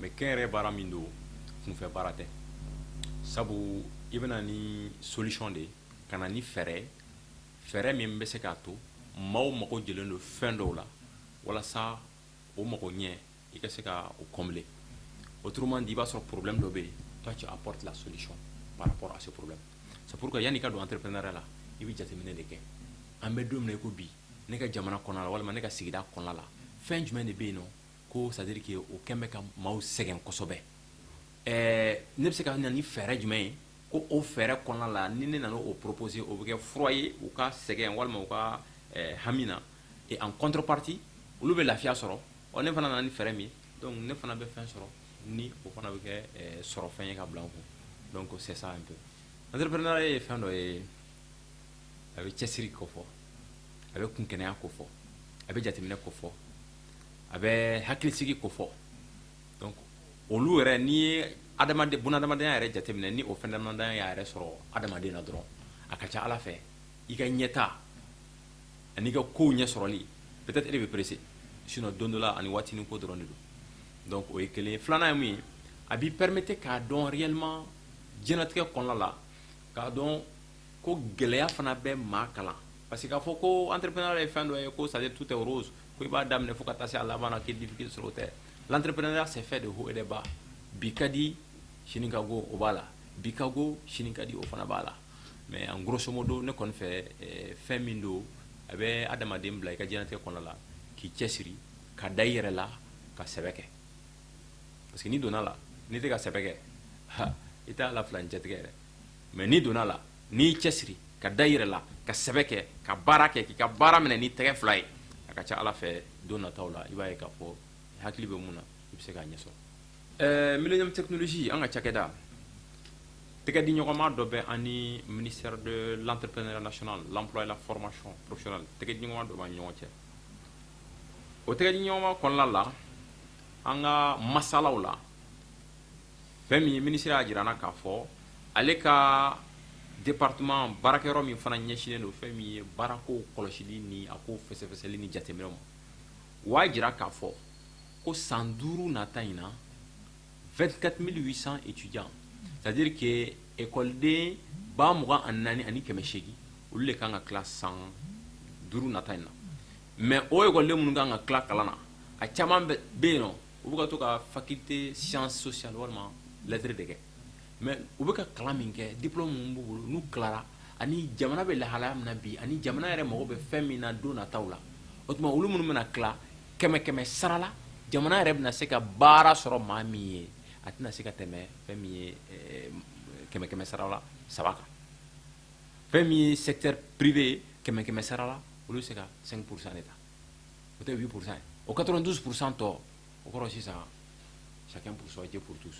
mɛ kɛ yɛrɛ baara min don kunfɛ baara tɛ sabu i bɛ na ni solution de ye ka na ni fɛɛrɛ fɛɛrɛ min bɛ se k'a to maaw mago jɔlen don fɛn dɔw la walasa o mago ɲɛ i ka se ka o combler autrement dit i b'a sɔrɔ problème dɔ bɛ yen toi tu apportes la solution par rapport à ce problème c'est pourquoi yani ka don entrepreneuriat la i bɛ jateminɛ de kɛ an bɛ don min na i ko bi ne ka jamana kɔnɔ la walima ne ka sigida kɔnɔ la fɛn jumɛn de bɛ yen nɔ ko c'est à dire que o kɛlen bɛ ka maaw sɛgɛn kosɛbɛ ne bɛ se ka na ni fɛɛrɛ jumɛn ye ko o fɛɛrɛ kɔnɔna la ni ne nana o proposer o bɛ kɛ fura ye u ka sɛgɛn walima u ka hami na en contrepartie olu bɛ lafiya sɔrɔ ɔ ne fana nana ni fɛɛrɛ min ne fana bɛ fɛn sɔrɔ ni o fana bɛ kɛ sɔrɔ fɛn ye ka bila kun ko se an to entrepreneuriat ye fɛn dɔ ye a bɛ cɛsiri kofɔ a bɛ kunkɛnɛya kofɔ a bɛ jateminɛ kofɔ a bɛ hakilisigi kofɔ donc olu yɛrɛ n'i ye adamadenya yɛrɛ jateminɛ ni o fɛn damadɔ y'a yɛrɛ sɔrɔ adamaden na dɔrɔn a ka ca ala fɛ i ka ɲɛtaa ani i ka kow ɲɛsɔrɔli peut-être e de bɛ presser sinon don dɔ la ani waatinin ko dɔrɔn de don donc o ye kelen filanan ye mun ye a b'i permettre k'a dɔn réellement diɲɛlatigɛ kɔnɔna la k'a dɔn ko gɛlɛya fana bɛ maa kalan Parce que k'a fɔ ko entrepreneuriat ye fɛn dɔ ye ko c'est à dire tout est rose ko i b'a daminɛ fo ka taa se a laban k' dibi sɔrɔ tɛ l'entrepreneuriat senfɛ des hauts des bas bi ka di sini ka go o b'a la bi ka go sini ka di o fana b'a la mais en grosso modo ne kɔni fɛ fɛn min don a bɛ adamaden bila i ka diɲɛlatigɛ kɔnɔ la k'i cɛ siri ka da i yɛrɛ la ka sɛbɛ kɛ parce que n'i donna a la n'i tɛ ka sɛbɛ kɛ i t'a la fila n cɛtigɛ yɛrɛ mais n'i donna a la n'i y'i cɛ siri ka da i yɛrɛ la ka sɛbɛ kɛ ka baara kɛ k'i ka baara minɛ ni tɛgɛ fila ye a ka ca ala fɛ don nata la i b'a ye k'a fɔ i hakili bɛ min na i bɛ se k'a ɲɛsɔrɔ ɛɛ Millénium technologie an ka cakɛda tɛgɛ di ɲɔgɔnma dɔ bɛ an ni ministère de l'entrepreneuriat national de l'emploi et la formation professionnelle tɛgɛ di ɲɔgɔnma dɔ bɛ ɲɔgɔn cɛ o tɛgɛ di ɲɔgɔnma kɔnɔna la an ka masalaw la fɛn min ye minisiri y'a jira an na k'a fɔ ale ka département baarakɛ yɔrɔ min fana ɲɛsinnen don fɛn min ye baarakow kɔlɔsili ni a ko fɛsɛfɛsɛli ni jateminɛw ma u y'a jira k'a fɔ ko san duuru nata in na 24800 étudiants c'est à dire que ekɔliden ba mugan ani naani ani kɛmɛ seegin olu de ka kan ka tila san duuru nata in na mais o ekɔliden minnu ka kan ka tila kalan na a caman bɛ yen nɔ u bɛ ka to ka faculté sciences sociales walima lettres de kɛ mais u bɛ ka kalan min kɛ diplôme minnu b'u bolo n'u tilara ani jamana bɛ lahalaya min na bi ani jamana yɛrɛ mako bɛ fɛn min na don nataw la o tuma olu minnu bɛna tila kɛmɛ kɛmɛ sarala jamana yɛrɛ bɛna se ka baara sɔrɔ maa min ye a tɛna se ka tɛmɛ fɛn min ye kɛmɛ kɛmɛ sarala saba kan fɛn min ye secteur privé ye kɛmɛ kɛmɛ sarala olu bɛ se ka cinq pour cent ta o tɛ huit pour cent o quatre-vingt-douze pour cent tɔ o kɔrɔ sisan sa psɔ jɛ porotu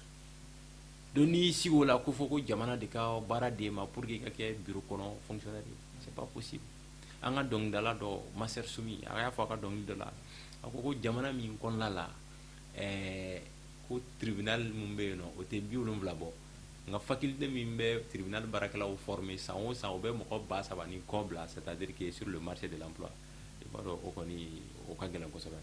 don n'i sigi o la k'a fɔ ko jamana de ka baara d'i ma pour que ka kɛ bi kɔnɔ fsasi an ka dɔnkilidala dɔ Master Soumy a y'a fɔ a ka dɔnkili dɔ la a ko ko jamana min kɔnɔna la ɛɛ ko tribunal minnu bɛ yen o tɛ bi wolonwula bɔ nka faculté min bɛ tribunal baarakɛlaw former san o san u bɛ mɔgɔ ba saba ni kɔ bila c'est à dire que sur le marché de l'emploi i b'a dɔn o kɔni o ka gɛlɛn kosɛbɛ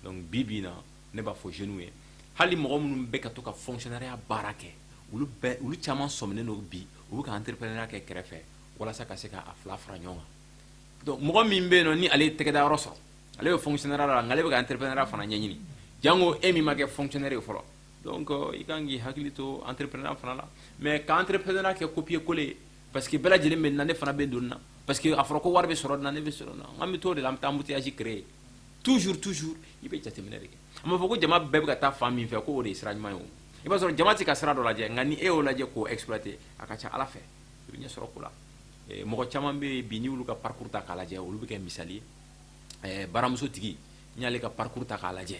donc bi bi in na ne b'a fɔ jeunes ye hali mɔgɔ minnu bɛ ka to ka fonctionnariat baara kɛ olu bɛɛ olu caman sɔminen don bi u bɛ ka entrepreneuriat kɛ kɛrɛfɛ walasa ka se ka a fila fara ɲɔgɔn kan donc mɔgɔ min bɛ yen nɔ ni ale ye tɛgɛda yɔrɔ sɔrɔ ale bɛ fonctionnariat la nka ale bɛ ka entrepreneuriat fana ɲɛɲini jango e min ma kɛ fonctionnaire ye fɔlɔ donc i kan k'i hakili to entrepreneuriat fana la mais ka entrepreneuriat kɛ copier coller ye Parce que bɛɛ lajɛlen bɛ na ne fana bɛ don na parce que a fɔra ko wari bɛ sɔrɔ na ne bɛ sɔrɔ an bɛ to de la an bɛ taa mutiyasi créer toujours toujours i bɛ jateminɛ de kɛ a b'a fɔ ko jama bɛɛ bɛ ka taa fan min fɛ k'o de ye sira ɲuman ye i b'a sɔrɔ jama tɛ ka sira dɔ lajɛ nka ni e y'o lajɛ k'o exploiter a ka ca a la fɛ i bɛ ɲɛ sɔrɔ ko la mɔgɔ caman bɛ bi n'i y'olu ka parcours ta k'a lajɛ olu bɛ kɛ misali baramuso tigi n'i y'ale ka parcours ta k'a lajɛ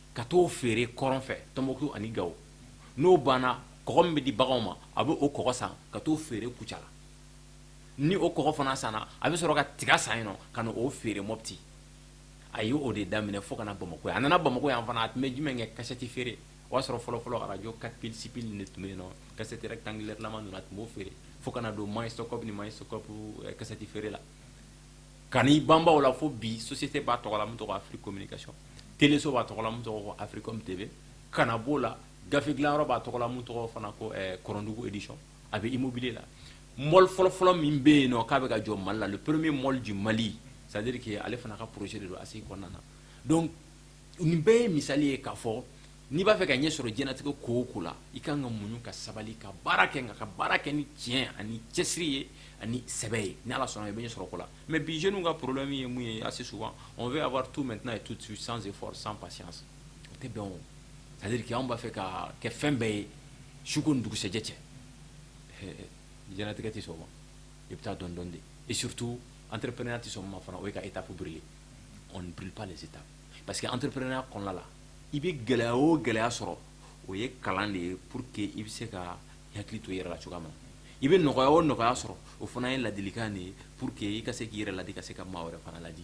ka t'o feere kɔrɔn fɛ Tɔnbukutu ani Gawo n'o banna kɔgɔ min bɛ di baganw ma a bɛ o kɔgɔ san ka t'o feere Kucala ni o kɔgɔ fana sanna a bɛ sɔrɔ ka tiga san yen nɔ ka na o feere Mɔpti a ye o de daminɛ fo ka na Bamako yan a nana Bamako yan fana a tun bɛ jumɛn kɛ kasɛti feere o y'a sɔrɔ fɔlɔ-fɔlɔ arajo 4 piles 6 piles de tun bɛ yen nɔ kasɛti rectangulaire lama ninnu a tun b'o feere fo ka na don magnétoscope ni magnétoscope eh, kasɛti feere la ka ban la fo bi so tɛ b'a tɔgɔ min tɔgɔ afiri ko ka tso b'a tɔgɔ min tɔgɔ afiri tɛ kana b'o la gafe dilan b'a tɔgɔ min tɔgɔ fana ko kindugu edi a bɛ imob la mɔ fɔlɔfɔlɔ min bɛ yen k'a bɛ ka jɔ mali la purme mɔlid mali sari ale fana ka psi don a se kɔnɔna na nin bɛɛ ye misali ye k'a fɔ n'i b'a fɛ ka ɲɛ sɔrɔ jɛnatigɛ ko o ko la i ka kan ka muɲu ka sabali ka baara kɛ nka ka baara kɛ ni tiɲɛ ani cɛsiri ye ani sɛbɛ ye ni Ala sɔnna i bɛ ɲɛ sɔrɔ ko la mais bi jeunes ka problème ye mun ye assez souvent on veut avoir tout maintenant et tout de suite sans effort sans patience o tɛ bɛn o c'est à dire que anw b'a fɛ ka kɛ fɛn bɛɛ ye su ko ni dugusɛjɛ cɛ jɛnatigɛ tɛ sɔn o ma i bɛ taa dɔɔni dɔɔni de et surtout entrepreneuriat tɛ sɔn min ma fana o ye ka étape brûler parce que entrepreneuriat kɔnɔna la i bɛ gɛlɛya o gɛlɛya sɔrɔ o ye kalan de ye pour que i bɛ se ka hakili to yɛrɛ la cogoya ma i bɛ nɔgɔya o nɔgɔya sɔrɔ o fana ye ladilikan de ye pour que i ka se k'i yɛrɛ ladi ka se ka maa wɛrɛ fana ladi